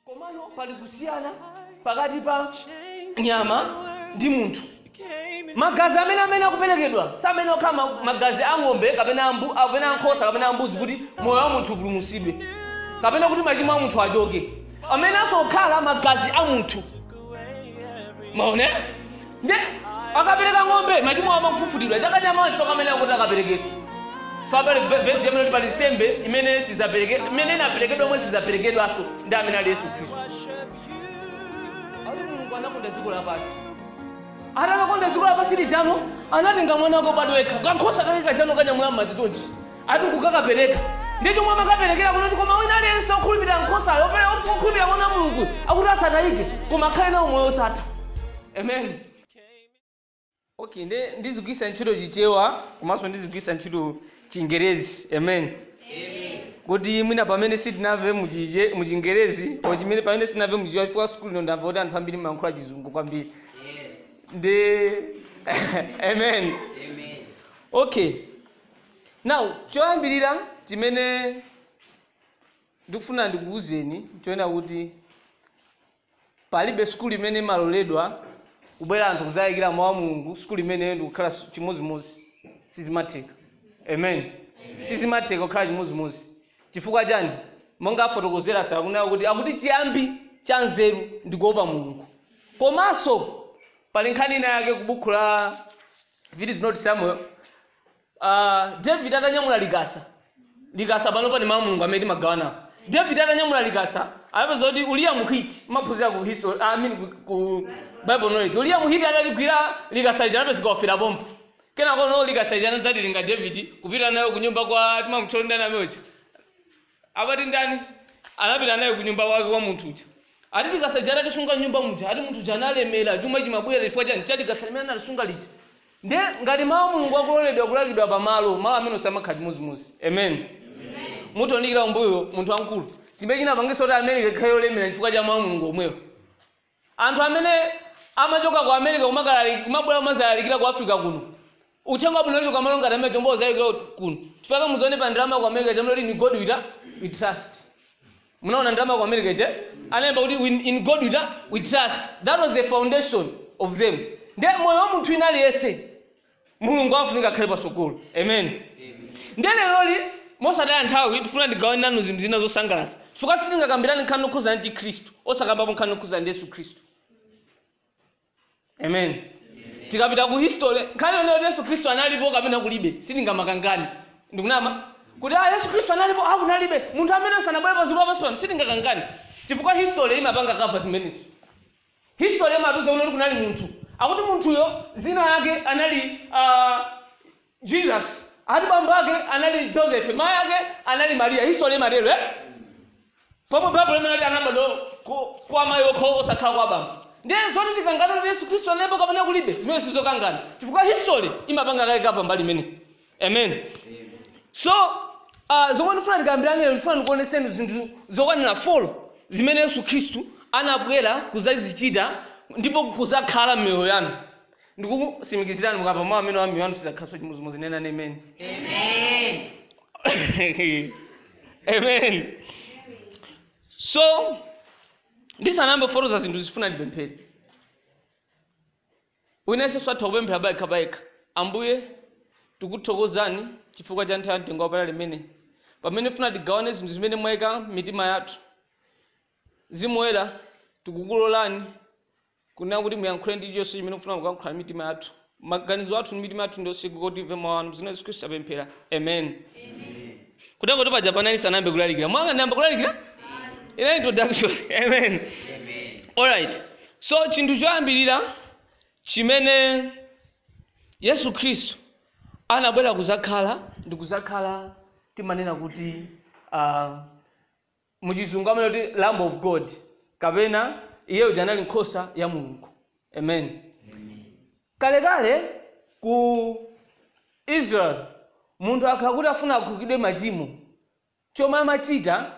Komano pali kusiyana pakati pa nyama ndi munthu. Magazi amene amene akuperekedwa samayenera kukhala magazi a ng'ombe kapena a mbu- kapena a nkhosa kapena a mbuzi kuti moyo wa munthu upulumutsidwe kapena kuti machimo a munthu achoke. Amayeneranso kukhala magazi a munthu maone nde akapereka ng'ombe machimo awo akufufutidwa chaka cha mawa chifukwa amene akuti akaperekeso Baibulo vesi imanena kuti pali nsembe imene sizapereke- imene inaperekedwa omwe sizaperekedwanso ndi amene ali yesu khristu ali mulungu anakonda dziko lapansi atakakonda dziko lapansi lija no anatenga mwana wake obadwa yekha kankhosa kake kajano kanyamula m'madzi tonji ati nkukakapereka ndiye chomwe amakaperekera kunali koma wina aliyense okhulupirira nkhosayo opera okhulupirira mwana wa mulungu akuti asatayike koma akhale nawo moyo osatha amen okay nde ndizigwisa ntchito chichewa komanso ndizigwisa ntchito chingerezi amen kuti mwina pamene sitinamve muchije- muchingerezi or chimene pamene sitinamve muchichewa chifukwa sukulu ino ndamva kuti anthu ambiri mumayankhula chizungu kwambiri ndi amen okay Now, choyambirira chimene ndikufuna ndikuwuzeni nchonena kuti palibe sukulu imene imaloledwa kubwera anthu kuzalalikira mawu a mulungu sukulu imeneyo ndikukhala su- chimodzimodzi sizimatheka amen sizimatheka kukhala chimodzimodzi chifukwa chani monga afotokozera akunena kuti akuti chiyambi cha nzeru ndikuopa mulungu komanso pali nkhani ina yake ku buku la If it is not Samuel, uh, David atanyamula likasa. Likasa pano ndi mawu a Mulungu amene timagawana. David atanyamula likasa, anapezeka kuti Uriya Muhiti, mumaphunzira ku history, I mean ku, ku Bible knowledge. Uriya Muhiti ataligwira likasa lija anapezeka wafera pompo. Kenako no likasa lija anazalitenga David kupita nayo ku nyumba kwa timamutcha ndani uja. Amati ndani? Anapita naye kunyumba kwake kwa munthu uja. Ati likasa lija atalisunga m'nyumba muja, ati munthu uja analemera, chuma chimabwera chifukwa chani? Cha likasa limene analisunga lija. Ndiye ngati mawu a Mulungu akuloledwa kulalikidwa pamalo, malo amenewo samakhala chimodzimodzi. Amen. Mutaonikira kumbuyo munthu wamkulu. Chimene chinapangitsa kuti America ikhale yolemera chifukwa cha mawu a Mulungu omwewo. Anthu amene amachoka ku America kumakalaliki kumabwera kumazalalikira ku Africa kuno. Uthenga wabwino kuchoka malo ngati amenewo nkumazalalikira kuno. Chifukwa muzione pa ndalama ku America analemba kuti in God we trust. Munaona ndalama ku America ije analemba kuti in God we trust. That was the foundation of them. Ndiye moyo wa munthu wina aliyese mulungu afunika akhale pasogolo amen ndiye lero mosataya nthawi ndifuna ndigawane nanu zinthu zina zosangalatsa chifukwa sitingakambirane nkhani yokhuzana ndi khristu osakambapo nkhani yokhuzana ndi yesu khristu amen tikapita ku history nkhani yonena kuti yesu khristu analipo kapena kulibe sitingamakangane ndikunama kuti ah yesu khristu analipo ah kunalibe munthu amene sanabwere paziko lapansi pano sitingakangane chifukwa history imapanga kava zimenezo History imatiuza kuti kunali munthu, akuti munthuyo zina lake anali uh, Jesus ati bambo ake anali Joseph mai ake anali Maria history imatero eh? pomwe Bible imanati anabadwa ku- kwa mai okho osakhala kwa bambo ndiye zoti tikangana kuti Yesu Kristo analipo kapena kulibe zimene sizokangana chifukwa history imapanga kale kava mbali imene amen so uh, zomwe ndifuna ndikambirane ndifuna ndikuoneseni zinthu zokwanira 4 zimene yesu khristu anabwera kuzazichita ndipo kuzakhala m'miyoyo yanu ndikusimikizirani mukamva mawu amenewa miyoyo yanu sizakhalaso chimozimozi nenani amen amen so ndisanambe fotokoza zinthu zifuna ndipemphere Wina nonse atha kupemphera payekha payekha. Ambuye, tikuthokozani chifukwa cha nthawi ya mtengo wapatali imeneyi, pamene mufuna tigawane zinthu zimene mwaika m'mitima yathu. Mzimu Woyera, tikukulolani kunena kuti muyankhule ndi chilichonse chimene mukufuna kuyankhula ndi mitima yathu. Maganizo athu ndi mitima yathu ndi yotsekuka kuti timve mau anu. M'dzina la Yesu Khristu tapemphera. Amen. kutengotu paja paja ndisanayambe kulalikira mwaona ndiyamba kulalikira inali introduction amen alright so chinthu choyambirira chimene yesu khristu anabwera kuzakhala ndi kuzakhala timanena kuti uh, mu chizungu amanena kuti lamb of god kapena iye uja anali nkhosa ya mulungu amen kalekale ku israel munthu akakhala kuti afuna akhululukidwe machimo chomwe amachita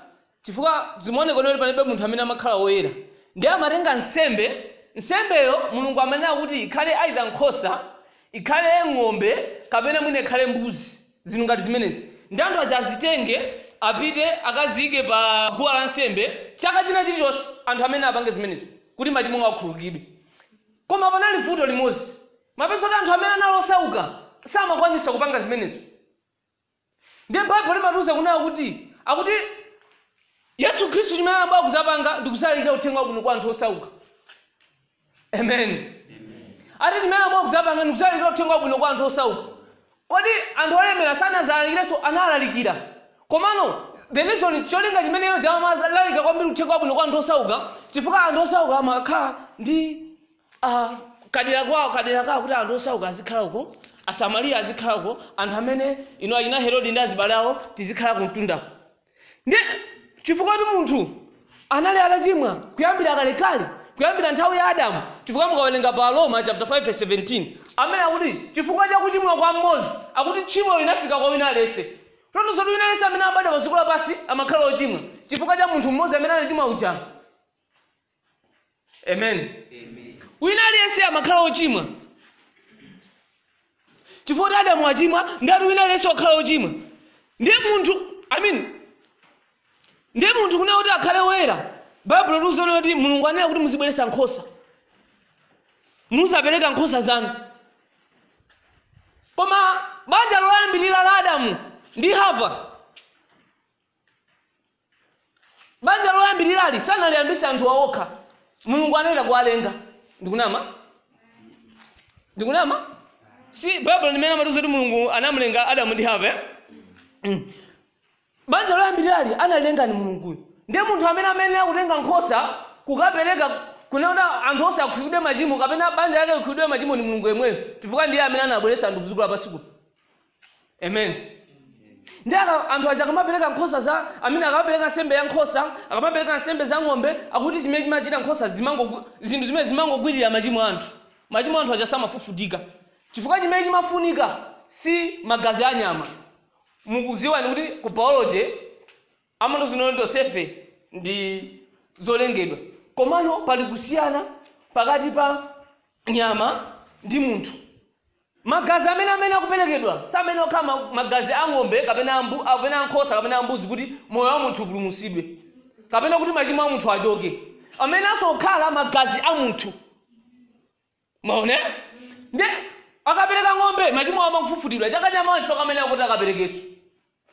chifukwa zimaoneka kuti palibe munthu amene amakhala woyera ndiye amatenga nsembe nsembeyo mulungu amanena kuti ikhale either nkhosa ikhale ng'ombe kapena mwina ikhale mbuzi Zinthu ngati zimenezi ndiye anthu aja azitenge apite akaziike pa guwa la nsembe chaka china chilichonse, anthu amayenera apange zimenezo kuti machimo awo akhululukidwe. Koma panali vuto limodzi, umapeza kuti anthu amene anali osauka samakwanitsa kupanga zimenezo. Ndiye Baibulo limatiuza kunena kuti akuti Yesu Khristu chimene anabwera kudzapanga ndi kudzalalikira uthenga wabwino kwa anthu osauka. amen ati chimene anabwera kuzapanga ndi kuzalikira uthenga wabwino kwa anthu osauka kodi anthu olemera sanazalalikirenso analalikira komano the reason cholinga chimene iwo amazalalika kwambiri uthenga wabwino kwa anthu osauka chifukwa anthu osauka amakhala ndi ah, kadera kwawo kadera kawo kuti anthu osauka azikhala uko asamariya azikhala uko anthu amene inu achina herodi ndi azibale awo tizikhala kumtundako ndiye chifukwa kuti munthu anali atachimwa kuyambira kalekale kuyambira nthawi ya adamu chifukwa mukawerenga pa aroma chapter 5 verse 17 amene akuti chifukwa cha kuchimwa kwa mmodzi akuti tchimo linafika kwa wina aliyense ndiye zoti wina aliyense amene abadwa pa dziko lapansi amakhala ochimwa chifukwa cha munthu mmodzi amene anachimwa uja amen wina aliyense amakhala ochimwa chifukwa kuti adamu achimwa ndati wina aliyense wakhala ochimwa ndiye munthu i mean ndiye munthu kunena kuti akhale woyera baibulo likutiuza kuti mulungu anena kuti muzibweretsa nkhosa muzapereka nkhosa zanu koma banja loyambirira la adamu ndi hava Banja loyambirirali sanaliyambitse anthuwa okha. Mulungu anachita kuwalenga. Ndikunama? Ndikunama? Si Baibulo limene amatiuza kuti Mulungu anamulenga Adamu ndi Hava. eh? Mm. Banja loyambirirali analenga ndi Mulunguyo. Ndiye munthu amene amayenera kutenga nkhosa kukapereka kunena kuti anthu onse akhululukidwe machimo kapena banja lake likhululukidwe machimo ndi Mulungu yemweyo chifukwa ndiye amene anabweretsa anthu kudziko lapansi kuno. amen ndi aka- anthu aja akamapereka nkhosa za amene akamapereka nsembe ya nkhosa akamapereka nsembe za ng'ombe akuti zimene zimachita nkhosa zimango zinthu zimene zimangogwirira machimo a anthu machimo a anthu aja samafufutika chifukwa chimene chimafunika si magazi a nyama mukudziwa kuti ku biology amatiuza kuti tonsefe ndi zolengedwa komano pali kusiyana pakati pa nyama ndi munthu Magazi amene amayenera kuperekedwa samayenera kukhala ma, magazi a ng'ombe kapena a mbu, kapena a nkhosa kapena a mbuzi kuti moyo wa munthu upulumutsidwe kapena kuti machimo a munthu achoke. Amayeneranso kukhala magazi a munthu. Mwaona? Nde akapereka ng'ombe, machimo awo amangofufutidwa. Chaka chamawa nchifukwa amayenera kuti akaperekenso.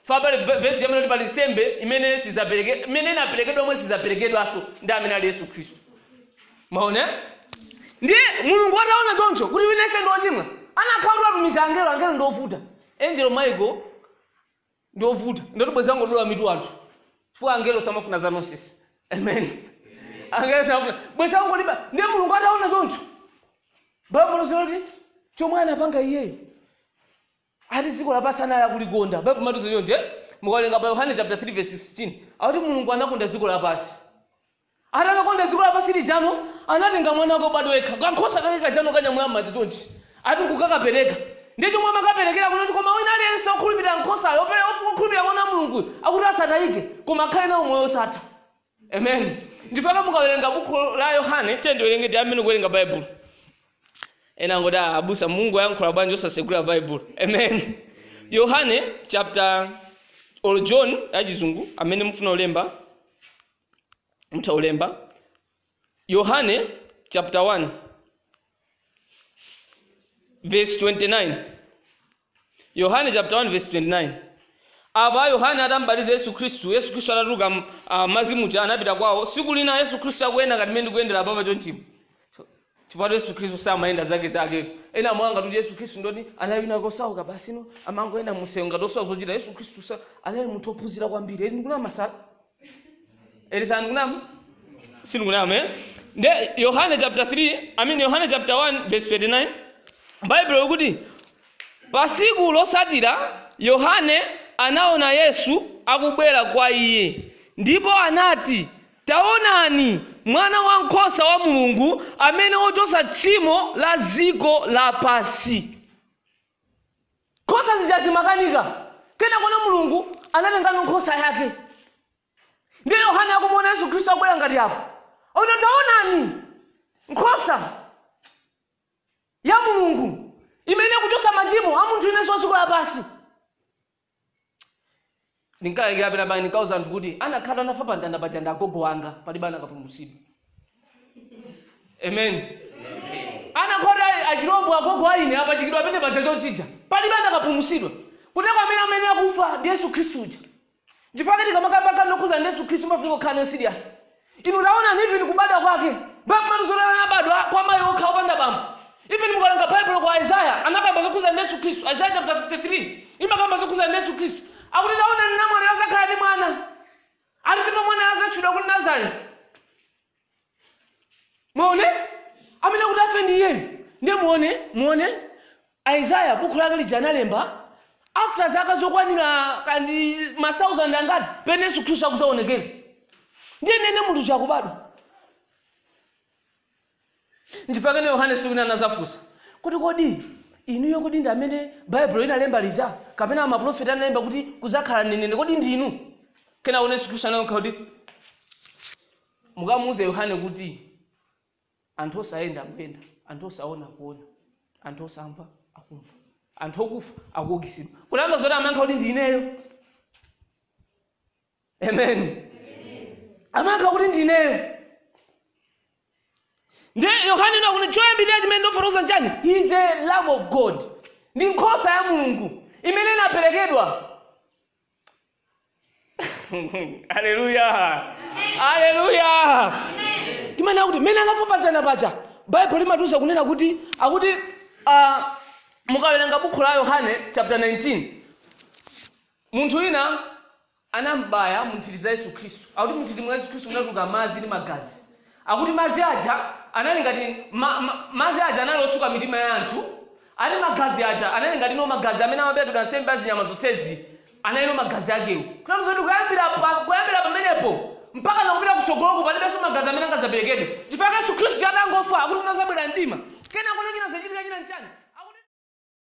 fa pali ve vesi imanena kuti pali nsembe imene sizapereke imene inaperekedwa omwe sizaperekedwanso ndi amene ali yesu khristu mwaona ndiye mulungu ataona choncho kuti wina aliyense ndi ochimwa kunakakhala kuti atumiza angelo angelo ndi ovuta angel michael ndi ovuta ndiye kuti bwezi angodula mitu anthu chifukwa angelo samafuna za nonsense amen angelo samafuna bwezi angoliba ndiye mulungu ataona choncho baibulo linati chomwe anapanga iyeyo Ati dziko lapansi anali kulikonda. Baibulo limatiuza choncho. Mukawerenga pa Yohane chaputala 3 vesi 16, akuti Mulungu anakonda dziko lapansi. Ati atakonda dziko lapansi lijano, anatenga mwana wake wobadwa yekha, kankhosa kake kajano kanyamula m'manja chonchi, ati nkukakapereka. Ndiye chomwe amakaperekera n'noti koma wina aliyense wokhulupirira nkhosayo, wokhulupirira Mwana wa Mulunguyo, akuti asatayike, koma akhale nawo moyo wosatha. amen ndipo mukawerenga buku la yohane tiye ndiwerenge ndiyambe kuwerenga baibulo ena angoda "Ah, abusa mulungu ayankhula bwanji osasegula baibulo amen yohane chapter or john yachizungu amene mufuna ulemba mutha ulemba yohane chapter 1 verse 29 Yohane chaputala 1 vesi 29 Apa Yohane atam'batiza Yesu Khristu, Yesu Khristu atatuluka m- ah, madzi muja anapita kwawo. Tsiku lina Yesu Khristu akuyenda ngati mmene ndikuyendera apapa chonchimu. Chifukwa Yesu Khristu samayenda zake zake. Ena mangoona ngati Yesu Khristu ndoti anali wina kosauka basi no amangoyenda mumsewu ngati osowa zochita. Yesu Khristu sa anali munthu ophunzira kwambiri. Eti ndikunama masala. eti sindikunama sindikunama eh? nde yohane chapter 3 i mean yohane chapter 1 verse 29 baibulo likuti pa siku losatira yohane anaona yesu akubwera kwa iye ndipo anati taonani mwana wankhosa wa mulungu amene wochotsa tchimo la dziko lapansi Nkhosa zija zimakanika. Kenakono Mulungu anatengano nkhosa yake. Ndiye Yohane akumuona Yesu Khristu akubwera ngati apo. Ati taonani nkhosa ya Mulungu imene ikuchosa machimo a munthu inenso wa dziko lapansi. Ndinkalalikira penapake ndinkauza anthu kuti anakakhala anafa pa mtanda paja ndi agogo anga palibe anakapulumutsidwa. Amen. Anakati achilombo agogo aine apachikidwa pene paja chonchija palibe anakapulumutsidwa. Kuti pamene amene akufa ndi Yesu Khristu uja. Chifukwa tikamakamba zokhuza ndi Yesu Khristu mafunika kukhala nayo serious. Inu taonani, even kubadwa kwake, Baibulo imatiuza zoti anabadwa kwa mayi okha opanda bambo. Even mukawerenga Baibulo ku Isaiah, anakamba zokhuza ndi Yesu Khristu, Isaiah chapter 53, imakamba zokhuza ndi Yesu Khristu. Akuti taonani namwali azakhala ndi mwana. Ati ndipo mwanayo azatchulidwa kuti Nazarene. Mwaone? Amene kuti afe ndi iyeyu. Ndiye muone, muone, Isaiah bukhu lake lija analemba after zaka zokwanira kaya ndi ma thousand angati pene Yesu Khristu akuzaonekera. Ndiye nene munthu uja akubadwa. Ndi pakenapake Yohane siku lina anazafunsa kuti kodi kodi inuyo kodi ndi amene Baibulo inalemba lija kapena amaprofeti analemba kuti kuzakhala nenene kodi ndinu? Kenako Yesu Khristu anayankha kuti mukamuuze Yohane kuti anthu osayenda akuyenda, anthu osaona akuona, anthu osamva akumva, anthu okufa akuukitsidwa. Kutanthauza zoti amayankha kuti ndi ineyo. Amen. Amayankha kuti ndi ineyo. Nde Yohane inaona kuti choyambirira chimene ndifotokoza nchani? He is a lamb of God. Ndi nkhosa ya Mulungu imene inaperekedwa haleluya haleluya timanena kuti mmene anafa pamtanda paja baibulo limatiuza kunena kuti akuti uh, mukawerenga bukhu la yohane chapter 19 munthu wina anambaya munthiti za yesu khristu akuti munthiti mwa yesu khristu munatuluka madzi ndi magazi Akuti madzi aja anali ngati, ma, ma, madzi aja anali osuka mitima ya anthu, ati magazi aja anali ngati ndi magazi amene amaperekedwa nsembe ya zinyama zonsezi, anali ndi magazi akewo. Kutanthauza kuti kuyambira pa, kuyambira pamenepo mpaka na kupita kusogoloku palibenso magazi amene angazaperekedwe. Chifukwa Yesu Khristu atangofa, akuti unazabwera mdima. Kenako china chinazachitika china nchani?